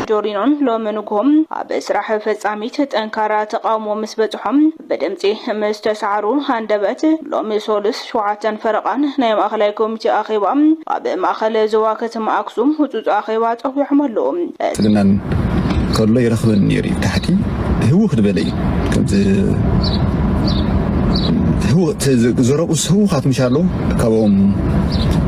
ጆርዲኖን ሎሚ ንግሆ ኣብ ስራሕ ፈጻሚት ጠንካራ ተቓውሞ ምስ በጽሖም ብድምጺ ምስ ተሳዕሩ ሃንደበት ሎሚ ሶሉስ ሸውዓተን ፈረቓን ናይ ማእኸላይ ኮሚቴ ኣኼባ ኣብ ማእኸል ዞባ ከተማ ኣክሱም ህጹጽ ኣኼባ ጸዊዖም ኣለዉ። ትልናን ከሎ ይረኽበኒ ነይሩ ኢዩ ታሕቲ ህውኽ ዝበለ ኢዩ ከምቲ ህውኽ ዘረብኡስ ህውኻት ምሻሎ ካብኦም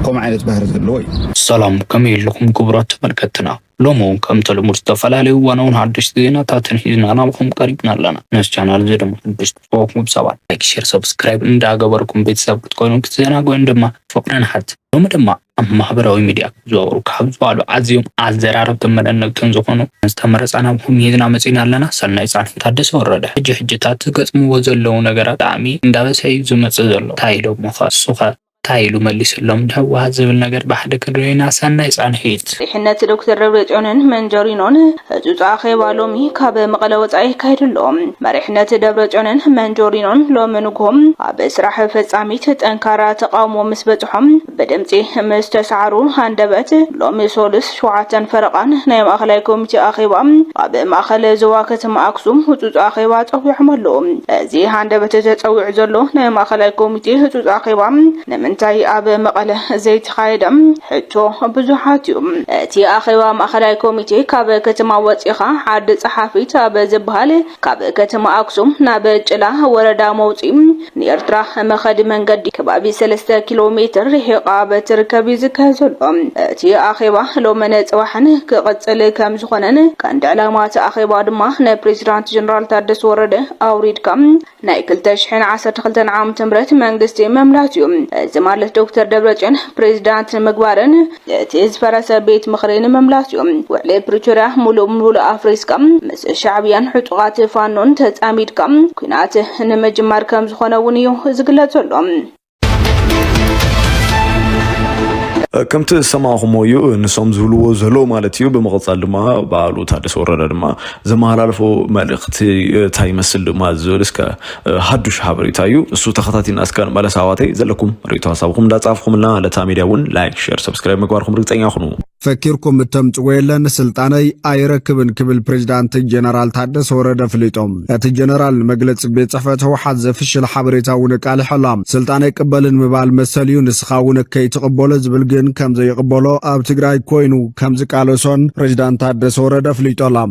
ከምኡ ዓይነት ባህሪ ዘለዎ እዩ። ሰላም ከመይ ኣለኹም ክቡራት ተመልከትትና ሎሚ ውን ከምቲ ልሙድ ዝተፈላለዩ እዋናውን ሓደሽቲ ዜናታትን ሒዝና ናባኹም ቀሪብና ኣለና ነዚ ቻናል እዚ ድማ ሓደሽቲ ዝኾንኩም ሰባት ላይክ ሼር ሰብስክራይብ እንዳገበርኩም ቤተሰብ ክትኮኑ ክትዘናግዑን ድማ ብፍቕሪ ንሓትት ሎሚ ድማ ኣብ ማህበራዊ ሚድያ ዞሩ ካብ ዝበሃሉ ኣዝዮም ኣዘራረብትን መደነቅትን ዝኾኑ ዝተመረፃ ናብኹም ሂዝና መፂና ኣለና ሰናይ ፃንሒት ታደሰ ወረደ ሕጂ ሕጂታት ዝገጥምዎ ዘለዉ ነገራት ብጣዕሚ እንዳበዝሐ እዩ ዝመፅእ ዘሎ ታይ ኢሎሞኸ እሱኸ ታይ ኢሉ መሊስሎም ንህወሓት ዝብል ነገር ብሓደ ክንሪኦ ኢና ሰናይ ፃንሒት። መሪሕነት ዶክተር ደብረፅዮንን መንጀሪኖን ህፁፅ ኣኼባ ሎሚ ካብ መቐለ ወፃኢ ይካየድ ኣሎ። መሪሕነት ደብረፅዮንን መንጆሪኖን ሎሚ ንጉሆ ኣብ ስራሕ ፈፃሚት ጠንካራ ተቓውሞ ምስ በፅሖም ብድምጺ ምስ ተሰዓሩ ሃንደበት ሎሚ ሶሉስ ሸውዓተን ፈረቓን ናይ ማእኸላይ ኮሚቴ ኣኼባ ኣብ ማእኸል ዞባ ከተማ ኣክሱም ህፁፅ ኣኼባ ፀዊዖም ኣለዉ። እዚ ሃንደበት ተፀዊዑ ዘሎ ናይ ማእኸላይ ኮሚቴ ህፁፅ ኣኼባ ንምንታይ ኣብ መቐለ ዘይተኻየደ ሕቶ ብዙሓት እዩ። እቲ ኣኼባ ማእኸላይ ኮሚቴ ካብ ከተማ ወፂእኻ ዓዲ ፀሓፊት ኣብ ዝበሃል ካብ ከተማ ኣክሱም ናብ ጭላ ወረዳ መውፅኢ ንኤርትራ መኸዲ መንገዲ ከባቢ ሰለስተ ኪሎ ሜትር ርሒቓ ኣብ እትርከብ እዩ ዝካየድ ዘሎ። እቲ ኣኼባ ሎምን ጽባሕን ክቕጽል ከም ዝኾነን ቀንዲ ዕላማ እቲ ኣኼባ ድማ ንፕሬዚዳንት ጀነራል ታደሰ ወረደ ኣውሪድካ ናይ ክልተ ሽሕን ዓሰርተ ክልተን ዓመተ ምህረት መንግስቲ ምምላስ እዩ። እዚ ማለት ዶክተር ደብረጽዮን ፕሬዚዳንት ንምግባርን እቲ ዝፈረሰ ቤት ምኽሪ ንምምላስ እዩ። ውዕሊ ፕሪቶርያ ሙሉእ ብሙሉእ ኣፍሪስካ ምስ ሻዕብያን ዕጡቓት ፋኖን ተፃሚድካ ኲናት ንምጅማር ከምዝኾነ እውን እዩ ዝግለፅ ዘሎ። ከምቲ ዝሰማዕኹሞ እዩ ንሶም ዝብልዎ ዘለዉ ማለት እዩ። ብምቕፃል ድማ በዓሉ ታደሰ ወረደ ድማ ዘመሃላለፎ መልእኽቲ እንታይ ይመስል ድማ ዝብል እስከ ሃዱሽ ሓበሬታ እዩ እሱ ተኸታቲልና እስከ ንመለስ ኣሕዋተይ ዘለኩም ርእቶ ሀሳብኹም እንዳጻፍኹምልና ለታ ሚድያ እውን ላይክ ሸር ሰብስክራይብ ምግባርኩም ርግፀኛ ኩኑ ፈኪርኩም እተምጽዎ የለን ስልጣነይ ኣይረክብን ክብል ፕሬዚዳንት ጀነራል ታደሰ ወረደ ፍሊጦም እቲ ጀነራል ንመግለፂ ቤት ጽሕፈት ህወሓት ዘፍሽል ሓበሬታ እውን ኣቃሊሖላ ስልጣን ኣይቅበልን ምባል መሰል እዩ ንስኻ እውን ከይትቕበሎ ዝብል ግን ከም ዘይቕበሎ ኣብ ትግራይ ኮይኑ ከም ዝቃለሶን ፕሬዚዳንት ታደሰ ወረደ ፍሊጦላ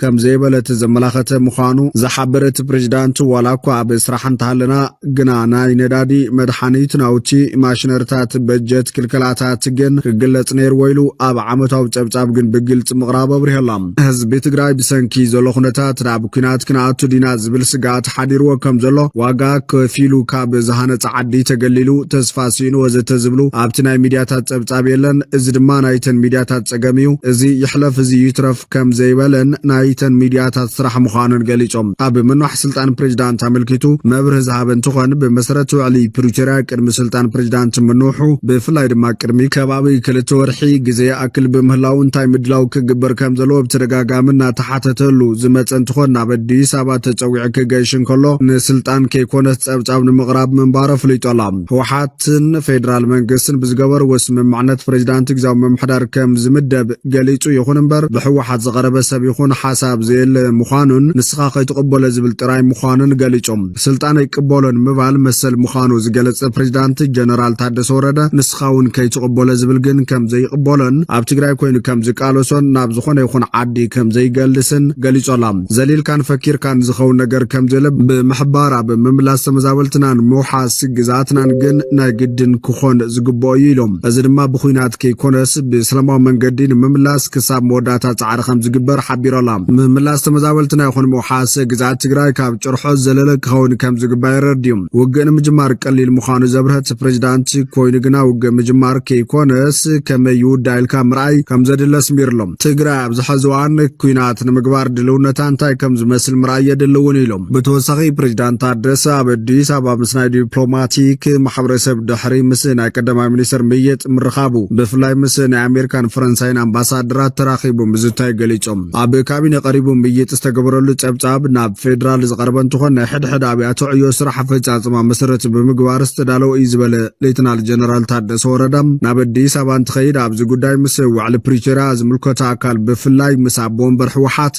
ከም ዘይበለት ዘመላኸተ ምዃኑ ዝሓበረ እቲ ፕሬዚዳንት ዋላ እኳ ኣብ ስራሕ እንተሃለና ግና ናይ ነዳዲ፣ መድሓኒት፣ ናውቲ፣ ማሽነርታት፣ በጀት፣ ክልከላታት ግን ክግለፅ ነይርዎ ኢሉ ኣብ ዓመታዊ ፀብፃብ ግን ብግልፂ ምቕራቡ ኣብሪሀ ኣሎ። ህዝቢ ትግራይ ብሰንኪ ዘሎ ኩነታት ናብ ኲናት ክንኣቱ ዲና ዝብል ስግኣት ሓዲርዎ ከም ዘሎ፣ ዋጋ ከፊሉ ካብ ዝሃነፀ ዓዲ ተገሊሉ፣ ተስፋ ስኢኑ ወዘተ ዝብሉ ኣብቲ ናይ ሚድያታት ፀብፃብ የለን። እዚ ድማ ናይተን ሚድያታት ፀገም እዩ። እዚ ይሕለፍ እዚ ይትረፍ። ከም ዘይበለን ናይተን ሚድያታት ስራሕ ምዃኑን ገሊጾም። ኣብ ምንዋሕ ስልጣን ፕሬዚዳንት ኣመልኪቱ መብርሂ ዝሃበ እንትኾን፣ ብመሰረት ውዕሊ ፕሪቶርያ ቅድሚ ስልጣን ፕሬዚዳንት ምንውሑ ብፍላይ ድማ ቅድሚ ከባቢ ክልተ ወርሒ ግዘ ይኣክል ብምህላው እንታይ ምድላው ክግበር ከም ዘለዎ ብተደጋጋሚ እናተሓተተሉ ዝመፀ እንትኾን ናብ ኣዲስ ኣበባ ተፀዊዑ ክገይሽ እንከሎ ንስልጣን ከይኮነስ ፀብፃብ ንምቕራብ ምንባሩ ኣፍሊጦ ኣሎ። ህወሓት ህወሓትን ፌዴራል መንግስትን ብዝገበርዎ ስምምዕነት ፕሬዚዳንት ግዜያዊ ምምሕዳር ከም ዝምደብ ገሊፁ። ይኹን እምበር ብህወሓት ዝቐረበ ሰብ ይኹን ሓሳብ ዘየለ ምዃኑን ንስኻ ከይትቕበሎ ዝብል ጥራይ ምዃኑን ገሊፆም። ስልጣን ኣይቅበሎን ምባል መሰል ምዃኑ ዝገለፀ ፕሬዚዳንት ጀነራል ታደሰ ወረደ ንስኻ እውን ከይትቕበሎ ዝብል ግን ከም ዘይቕበሎን ኣብ ትግራይ ኮይኑ ከም ዝቃለሶን ናብ ዝኾነ ይኹን ዓዲ ከም ዘይገልስን ገሊፆላ። ዘሊልካን ፈኪርካን ዝኸውን ነገር ከም ዘየለ ብምሕባር ኣብ ምምላስ ተመዛበልትናን ምውሓስ ግዝኣትናን ግን ናይ ግድን ክኾን ዝግብኦ እዩ ኢሎም። እዚ ድማ ብኹናት ከይኮነስ ብሰላማዊ መንገዲ ንምምላስ ክሳብ መወዳእታ ፃዕሪ ከምዝግበር ሓቢሮ ኣላ። ምምላስ ተመዛበልትና ይኹን ምውሓስ ግዝኣት ትግራይ ካብ ጭርሖ ዝዘለለ ክኸውን ከምዝግባእ የረድኡ። ውግእ ንምጅማር ቀሊል ምዃኑ ዘብርሀት ፕሬዚዳንት ኮይኑ ግና ውግእ ምጅማር ከይኮነስ ከመይ ይውዳእ ኢልካ ምርኣይ ከምዘድሊ ኣስሚርሎም። ትግራይ ኣብዚ ሐዚ እዋን ኲናት ንምግባር ድልውነታ እንታይ ከምዝመስል ምርኣይ የድሊ እውን ኢሎም። ብተወሳኺ ፕሬዚዳንት ታደሰ ኣብ ኣዲስ ኣበባ ምስ ናይ ዲፕሎማቲክ ማሕበረሰብ ድሕሪ ምስ ናይ ቀዳማይ ሚኒስትር ምይጥ ምርኻቡ ብፍላይ ምስ ናይ ኣሜሪካን ፈረንሳይን ኣምባሳደራት ተራኺቡ ምዝታዩ ገሊፆም። ኣብ ካቢነ ቀሪቡ ምይጥ ዝተገበረሉ ፀብፃብ ናብ ፌዴራል ዝቐረበ እንትኾን ናይ ሕድሕድ ኣብያተ ዕዮ ስራሕ ኣፈፃፅማ መሰረት ብምግባር ዝተዳለወ እዩ ዝበለ ሌተናል ጀነራል ታደሰ ወረደ ናብ ኣዲስ ኣበባ እንትኸይድ ኣብዚ ጉዳይ ምስ ውዕሊ ፕሪቶሪያ ዝምልከቶ ኣካል ብፍላይ ምስ ኣቦ ወንበር ህወሓት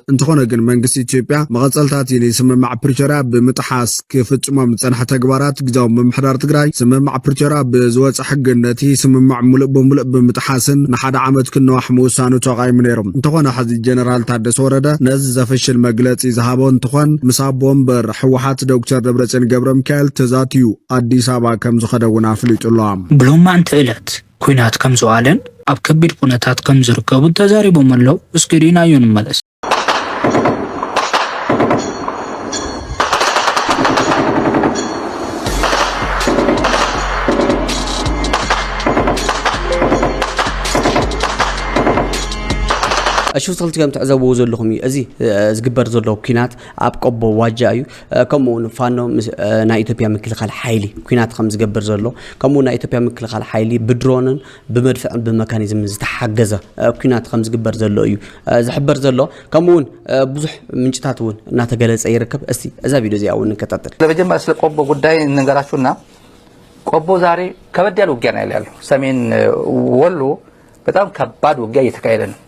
እንተኾነ ግን መንግስቲ ኢትዮጵያ መቐጸልታ'ቲ ንስምምዕ ፕሪቶርያ ብምጥሓስ ክፍጽሞም ዝጸንሐ ተግባራት ግዝያዊ ምምሕዳር ትግራይ ስምምዕ ፕሪቶርያ ብዝወጸ ሕግን ነቲ ስምምዕ ሙሉእ ብምሉእ ብምጥሓስን ንሓደ ዓመት ክነዋሕ ምውሳኑ ተቓይሙ ነይሩ። እንተኾነ ሕዚ ጀነራል ታደሰ ወረደ ነዚ ዘፍሽል መግለጺ ዝሃቦ እንትኾን ምስ ኣቦ ወንበር ህወሓት ዶክተር ደብረጽዮን ገብረሚካኤል ተዛትዩ ኣዲስ ኣበባ ከምዝኸደ እውን ኣፍሊጡ'ሎ። ብሎማዕንቲ ዕለት ኲናት ከም ዝወዓለን ኣብ ከቢድ ኩነታት ከም ዝርከቡን ተዛሪቦም ኣለው። እስኪ ርኢናዮ ንመለስ። ኣሽውሰልትገም ትዕዘብዎ ዘለኹም እዩ እዚ ዝግበር ዘሎ ኩናት ኣብ ቆቦ ዋጃ እዩ ከምኡ ውን ፋኖ ናይ ኢትዮጵያ ምክልኻል ሓይሊ ኩናት ከም ዝገብር ዘሎ ከምኡ ናይ ኢትዮጵያ ምክልኻል ሓይሊ ብድሮንን ብመድፍዕን ብመካኒዝምን ዝተሓገዘ ኩናት ከም ዝግበር ዘሎ እዩ ዝሕበር ዘሎ ከምኡ ውን ብዙሕ ምንጭታት እውን እናተገለፀ ይርከብ እስቲ እዛ ቪድዮ እዚኣ እውን ንከታተል ለመጀመሪያ ስለ ቆቦ ጉዳይ እንንገራችሁና ቆቦ ዛሬ ከበድ ያለ ውጊያ ነው ያለው ሰሜን ወሎ በጣም ከባድ ውጊያ እየተካሄደ ነው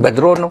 በድሮን ነው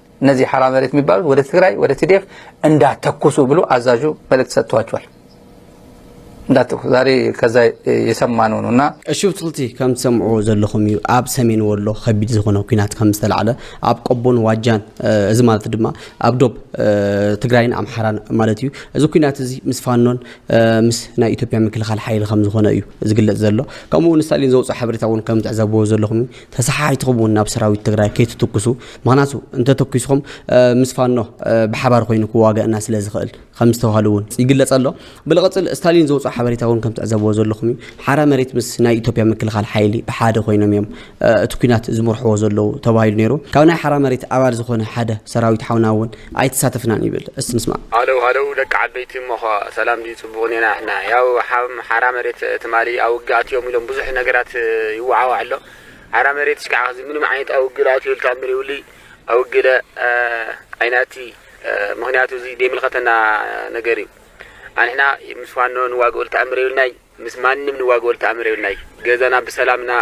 እነዚህ ሓራ መሬት የሚባሉት ወደ ትግራይ ወደ ቲዲኤፍ እንዳተኩሱ ብሎ አዛዡ መልእክት ሰጥቷቸዋል። እንዳተኩሱ ዛሬ ከዛ የሰማነው ነው እና እሺ ብፅልቲ ከም ትሰምዑዎ ዘለኹም እዩ ኣብ ሰሜን ወሎ ከቢድ ዝኾነ ኩናት ከም ዝተላዕለ ኣብ ቆቦን ዋጃን እዚ ማለት ድማ ኣብ ዶብ ትግራይን ኣምሓራን ማለት እዩ እዚ ኩናት እዚ ምስ ፋኖን ምስ ናይ ኢትዮጵያ ምክልኻል ሓይሊ ከም ዝኾነ እዩ ዝግለፅ ዘሎ ከምኡ እውን ስታሊን ዘውፅኦ ሓበሬታ እውን ከም ትዕዘብዎ ዘለኹም ተሰሓሒትኹም ውን ናብ ሰራዊት ትግራይ ከይትትኩሱ ምኽንያቱ እንተተኪስኹም ምስ ፋኖ ብሓባር ኮይኑ ክዋገእና ስለ ዝኽእል ከም ዝተባህሉ ውን ይግለፅ ኣሎ ብልቕፅል ስታሊን ዘውፅኦ ሓበሬታ ውን ከም ትዕዘብዎ ዘለኹም እዩ ሓራ መሬት ምስ ናይ ኢትዮጵያ ምክልኻል ሓይሊ ብሓደ ኮይኖም እዮም እቲ ኩናት ዝምርሕዎ ዘለዉ ተባሂሉ ነይሩ ካብ ናይ ሓራ መሬት ኣባል ዝኾነ ሓደ ሰራዊት ሓውና ውን ኣይተሳተፍናን ይብል እስቲ ንስማዕ። ሃለው ሃለው ደቂ ዓበይቲ እሞኸ ሰላም ድዩ ጽቡቅ እኔና ሕና ያው ሓም ሓራ መሬት ትማሊ ኣውግእ ኣትዮም ኢሎም ብዙሕ ነገራት ይዋዓዋዕ ኣሎ ሓራ መሬት እሽካዕ ሕዚ ምንም ዓይነት ኣውግእ ኣትዩ ተኣምር የብሉይ ኣውግለ ኣይናቲ ምክንያቱ እዚ ደይምልከተና ነገር እዩ ኣንሕና ምስ ፋኖ ንዋግኡል ተኣምር የብልናይ ምስ ማንም ንዋገወሉ ተኣምር የብልናይ ገዛና ብሰላም እና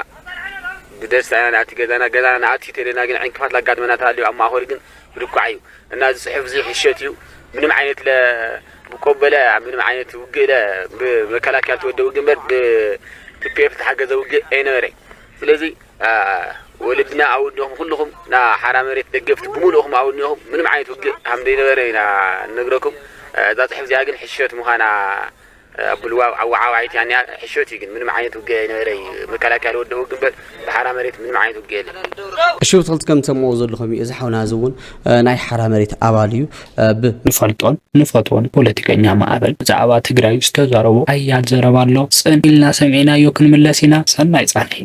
ብደስታ ኢና ንኣቲ ገዛና ገዛና ንኣቲ ተሌና ግን ዕንቅፋት ላጋጥመና ተሃልዩ ኣብ ማእኸሉ ግን ብድኳዕ እዩ እና እዚ ፅሑፍ እዚ ሕሸት እዩ ምንም ዓይነት ለ ብቆበለ ምንም ዓይነት ውግእ ለ ብመከላከያ ተወደ ውግእ እምበር ብቲፒኤፍ ዝተሓገዘ ውግእ ኣይነበረ ስለዚ ወለድና ኣውድኹም ኩልኹም ና ሓራ መሬት ደገፍቲ ብምሉእኹም ኣውድኹም ምንም ዓይነት ውግእ ሃምደይነበረ ኢና ንነግረኩም እዛ ፅሑፍ እዚኣ ግን ሕሸት ምዃና ኣቡሉ ኣወዓዋዒት ያኔ ሕሾት እዩ ግን ምንም ዓይነት ውግእ ኣይነበረ እዩ መከላከያ ልወደኡ ግን በል ብሓራ መሬት ምንም ዓይነት ውግእ የለን። እሺ ብትክልቲ ከም ትሰምዕዎ ዘለኹም እዩ እዚ ሓውና እዚ እውን ናይ ሓራ መሬት ኣባል እዩ ብ ንፈልጦን ንፈትዎን ፖለቲከኛ ማዕበል ብዛዕባ ትግራይ ዝተዛረቦ ሓያል ዘረባ ኣሎ ጽን ኢልና ሰሚዕናዮ ክንምለስ ኢና ሰናይ ጻንሒት።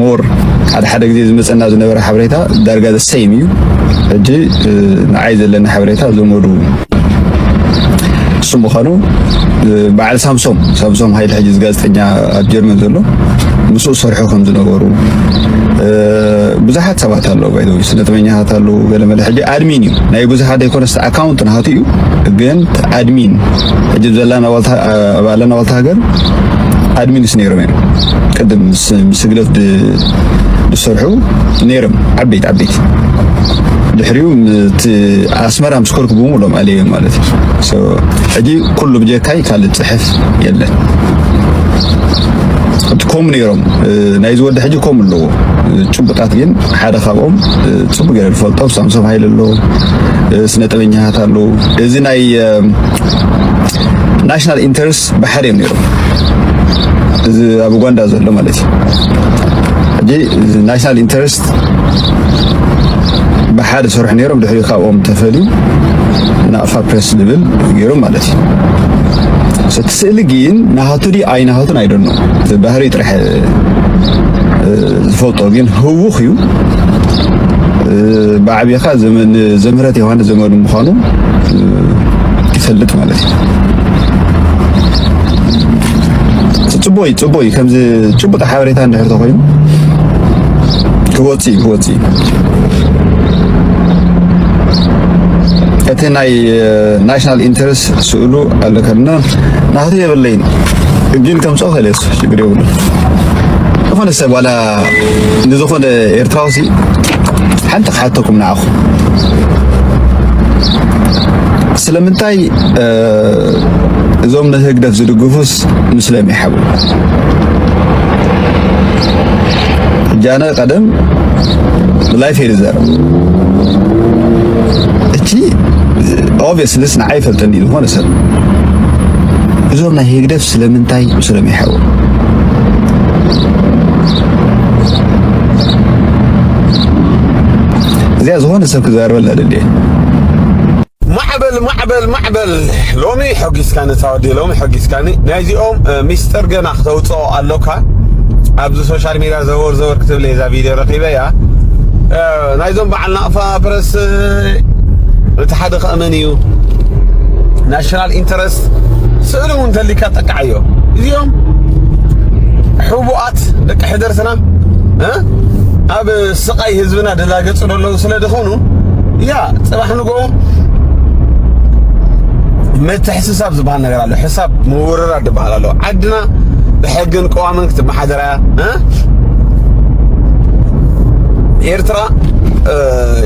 ሞር ሓደ ሓደ ግዜ ዝመፀና ዝነበረ ሓበሬታ ዳርጋ ዘሰይም እዩ ሕጂ ንዓይ ዘለኒ ሓበሬታ ዘመዱ እሱ ምዃኑ በዓል ሳምሶም ሳምሶም ሃይል ሕጂ ጋዜጠኛ ኣብ ጀርመን ዘሎ ምስኡ ሰርሑ ከም ዝነበሩ ብዙሓት ሰባት ኣለዉ ባይዘ ስነጥበኛታት ኣለዉ ገለመለ ሕጂ ኣድሚን እዩ ናይ ብዙሓት ዘይኮነስ ኣካውንት ናሃቱ እዩ ግን ኣድሚን ሕጂ ዘለና ዋልታ ሃገር ኣድሚንስ ነይሮም እዮም ቅድም ምስ ስግደት ዝሰርሑ ነይሮም ዓበይቲ ዓበይቲ ድሕሪኡ እቲ ኣስመራ ምስ ኮርኩ ብምሎም ኣለዮም ማለት እዩ ሕጂ ኩሉ ብጀካይ ካልእ ፅሕፍ የለን ከምኡ ነይሮም ናይዚ ወዲ ሕጂ ከምኡ ኣለዎ ጭቡጣት ግን ሓደ ካብኦም ፅቡቅ ገይረ ዝፈልጦ ሳምሶም ሃይለ ኣሎ ስነ ጥበኛታት ኣለዉ እዚ ናይ ናሽናል ኢንተረስት ባሕር እዮም ነይሮም እዚ ኣብ ኡጋንዳ ዘሎ ማለት እዩ እዚ ናሽናል ኢንተረስት ብሓደ ዝሰርሑ ነይሮም ድሕሪ ካብኦም ተፈልዩ ናቕፋ ፕሬስ ዝብል ገይሮም ማለት እዩ እቲ ስእሊ ግን ናሃቱ ድዩ ኣይናሃቱን ኣይደኖ ባህሪ ጥራሕ ዝፈልጦ ግን ህውኽ እዩ ብዓብኻ ዘምህረት ዮሃንስ ዘመዱ ምዃኑ ይፈልጥ ማለት ጽቡቅ እዩ ጽቡቅ እዩ ከምዚ ጭቡጥ ሓበሬታ እንድሕር ተኮይኑ ክወጽእ እዩ ክወጽእ እዩ እቲ ናይ ናሽናል ኢንተረስት ስእሉ ኣለከና ናቱ የብለይን ግን ከምጾ ከለስ ችግር የብሉ ዝኾነ ሰብ ዋላ ንዝኾነ ኤርትራዊ ሲ ሓንቲ ክሓተኩም ንዓኹም ስለምንታይ እዞም ንህግደፍ ዝድግፉስ ምስለም ይሓቡ ጃነ ቀደም ብላይፍ እየ ዝዛረብ እቲ ኦብስልስ ንዓይ ፈልጠኒ ዝኾነ ሰብ እዞም ናይ ህግደፍ ስለምንታይ ምስለም ይሓቡ እዚኣ ዝኾነ ሰብ ክዛረበላ ደልየ ማዕበል ማዕበል ማዕበል ሎሚ ሖጊስካኒ ታወዲ ሎሚ ሖጊስካኒ ናይዚኦም ሚስጥር ገና ክተውፅኦ ኣሎካ ኣብዚ ሶሻል ሚድያ ዘወር ዘወር ክትብል እየ እዛ ቪድዮ ረኺበያ ናይዞም በዓል ናቕፋ ፕረስ እቲ ሓደ ከእመን እዩ ናሽናል ኢንተረስት ስእሊ እውን ተሊካ ጠቃዓዮ እዚኦም ሕቡኣት ደቂ ሕደርትና ኣብ ስቃይ ህዝብና ደላገጹ ደለዉ ስለ ድኾኑ ያ ጽባሕ ዝገበርዎም ምትሕስሳብ ዝበሃል ነገር ኣሎ፣ ሕሳብ ምውርራድ ዝበሃል ኣሎ። ዓድና ብሕግን ቅዋምን ክትመሓደር እያ ኤርትራ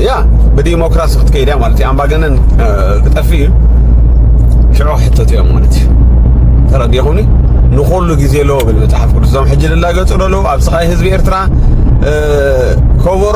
ያ ብዲሞክራሲ ክትከይድ እያ ማለት እዩ። ኣምባገነን ክጠፍእ እዩ። ሽዑ ክሕተቱ እዮም ማለት እዩ። ተረዲኹኒ ንኹሉ ግዜ ኣለዎ ብል መጽሓፍ ቅዱስ። እዞም ሕጂ ዝላገጹ ዘለዉ ኣብ ስቓይ ህዝቢ ኤርትራ ከበሮ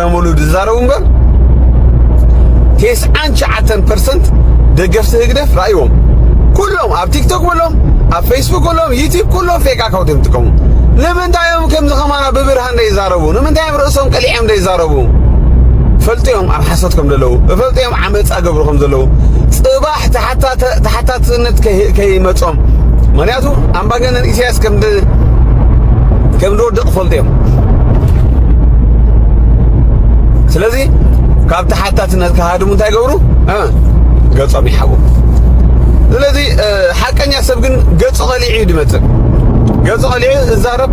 ሙሉ ዝዛረቡ እምበር ቴስዓን ሸዓተን ፐርሰንት ደገፍቲ ህግደፍ ራእይዎም ኩሎም ኣብ ቲክቶክ በሎም ኣብ ፌስቡክ በሎም ዩቲብ ኩሎም ፌክ ኣካውንት እዮም ዝጥቀሙ። ንምንታይ እዮም ከምዚ ከማና ብብርሃን ዘይዛረቡ? ንምንታይ እዮም ርእሶም ቀሊዖም ዘይዛረቡ? ፈልጥዮም ኣብ ሓሶት ከም ዘለዉ እፈልጥዮም ዓመፃ ገብሩ ከም ዘለዉ ፅባ ተሓታትነት ከይመጾም ምክንያቱ ኣምባገነን ኢሳያስ ከም ዝወድቕ ክፈልጡ እዮም ስለዚ ካብ ተሓታትነት ክሃድሙ እንታይ ገብሩ ገጾም ይሓቡ ስለዚ ሓቀኛ ሰብ ግን ገጹ ቐሊዑ እዩ ድመጽእ ገጹ ቐሊዑ እዛረብ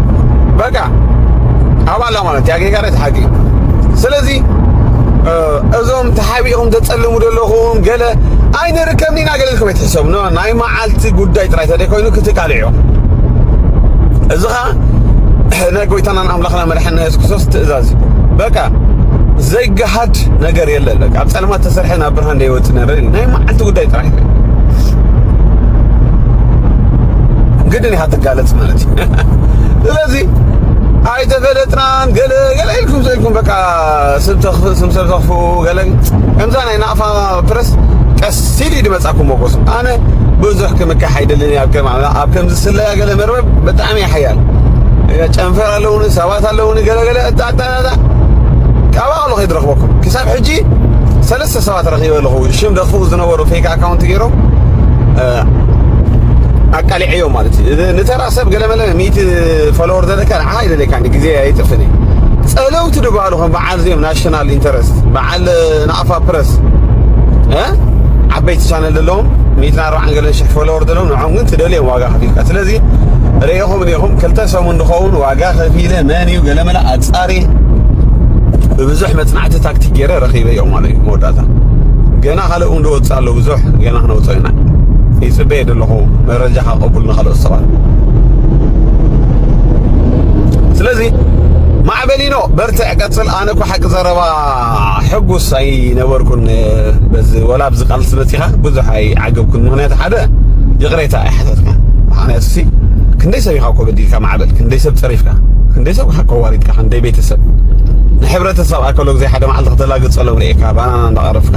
በቃ ኣባላ ማለት ያጌጋረት ሓቂ ስለዚ እዞም ተሓቢእኹም ተጸልሙ ዘለኹም ገለ ኣይንርከብን ኢና ገለ ኢልኩም ኣይትሕሰቡ ኖ ናይ መዓልቲ ጉዳይ ጥራይ ተደይኮይኑ ክትቃልዑ እዚ ኸኣ ናይ ጎይታናን ኣምላኽና መድሓኒና የሱስ ክርስቶስ ትእዛዝ እዩ በቃ ዘይገሃድ ነገር የለን በቃ ኣብ ጸልማት ተሰርሐ ናብ ብርሃን ዘይወጽእ ነገር ናይ መዓልቲ ጉዳይ ጥራይ እዩ ግድን ኢኻ ትጋለጽ ማለት እዩ ስለዚ ኣይተፈለጥናን ገለ ገለ ኢልኩም ኢልኩም በቃ ስም ተክፍእ ስም ሰብ ዘክፍኡ ገለ ከምዛ ናይ ናቅፋ ፕረስ ቀስ ኢሉ እዩ ድመጻ ክሞጎሱ ኣነ ብዙሕ ክምካሕ ኣይደልን ኣብ ከም ኣብ ከም ዝስለያ ገለ መርበብ ብጣዕሚ እየ ሓያል ጨንፈር ኣለውኒ ሰባት ኣለውኒ ገለ ገለ እጣጣጣ ኣባቕሎ ከይድረኽበኩም ክሳብ ሕጂ ሰለስተ ሰባት ረኺበ ኣለኹ ሽም ደኽፉ ዝነበሩ ፌክ ኣካውንት ገይሮም ኣቃሊዐዮም ማለት እዩ ንተራ ሰብ ገለመለ ሚእቲ ፎሎወር ዘለካ ኣይደለካን እዩ ግዜ ኣይጥፍን እዩ ጸለውቲ ድበሃሉ ከም በዓል እዚኦም ናሽናል ኢንተረስት በዓል ናቕፋ ፕረስ ዓበይቲ ቻነል ዘለዎም ሚእትን ኣርባዓን ገለን ሽሕ ፎሎወር ዘለዎም ንዖም ግን ትደልዮም ዋጋ ከፊልካ ስለዚ ርኢኹም እኒኹም ክልተ ሰሙን ድኸውን ዋጋ ከፊለ መን እዩ ገለመለ ኣጻሪ ብብዙሕ መጽናዕቲ ታክቲክ ገይረ ረኺበ እዮም ማለት እዩ መወዳእታ ገና ካልእ እውን ዝወፅእ ኣሎ ብዙሕ ገና ክነውፅኦ ኢና ይፅበ ይኸይድ ኣለኹ መረጃ ከቀቡል ንካልኦት ሰባት ስለዚ ማዕበሊኖ በርትዕ ቀፅል ኣነ እኮ ሓቂ ዘረባ ሕጉስ ኣይነበርኩን በዚ ወላ ኣብዚ ቃልሲ መፂኻ ብዙሕ ኣይዓገብኩን ምክንያቱ ሓደ ይቕሬታ ኣይሓተትካ ምክንያቱ ሲ ክንደይ ሰብ ኢኻ እኮ በዲልካ ማዕበል ክንደይ ሰብ ፀሪፍካ ክንደይ ሰብ ኢኻ ከዋሪድካ ክንደይ ቤተሰብ ንሕብረተሰብ ኣከሎ ግዜ ሓደ መዓልቲ ከተላግፀሎም ርኤካ ባናና እንዳቐረፍካ